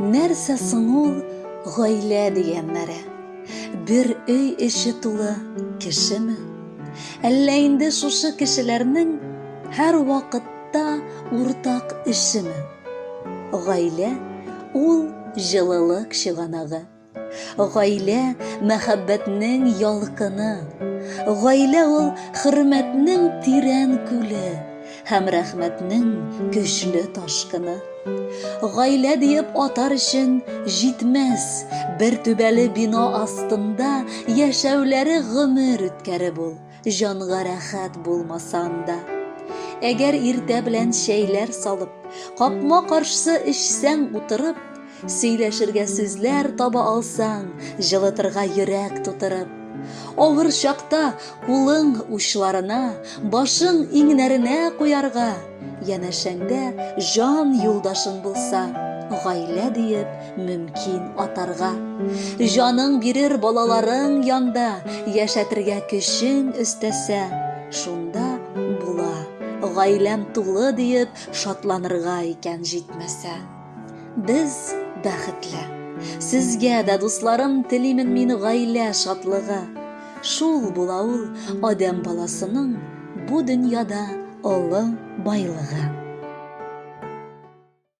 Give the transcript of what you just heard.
Нәрсә соң ул гаилә дигәннәре? Бер өй эче тулы кешеме? Әллә инде шушы кешеләрнең һәр вакытта уртак эшеме? Гаилә ул җылылык чыганагы. Гаилә, мәхәббәтнең ялкыны. Гаилә ул, хөрмәтнең тирән күле һәм рәхмәтнең көчле ташкыны. Гаилә диеп атар өчен җитмәс, бер түбәле бина астында яшәүләре гомер үткәреп ул, Җанга рәхәт булмасам да. Әгәр иртә белән чәйләр салып, капма каршы эчсәң утырып, сөйләшергә сүзләр таба алсаң, җылытырга йөрәк тутырып. Авыр чакта кулың учларына, башың иңнәренә куярга, Янәшәңдә җан юлдашың булса, гаилә диеп мөмкин атарга. Җаның бирер балаларың янда, яшәтергә көчең өстәсә, шунда була, гаиләм тулы диеп шатланырга икән җитмәсә. Без бәхетле. Сезгә дә, дусларым, телимен мин гаилә шатлыгы. Шул була ул адәм баласының бу дөньяда олы байлыгы.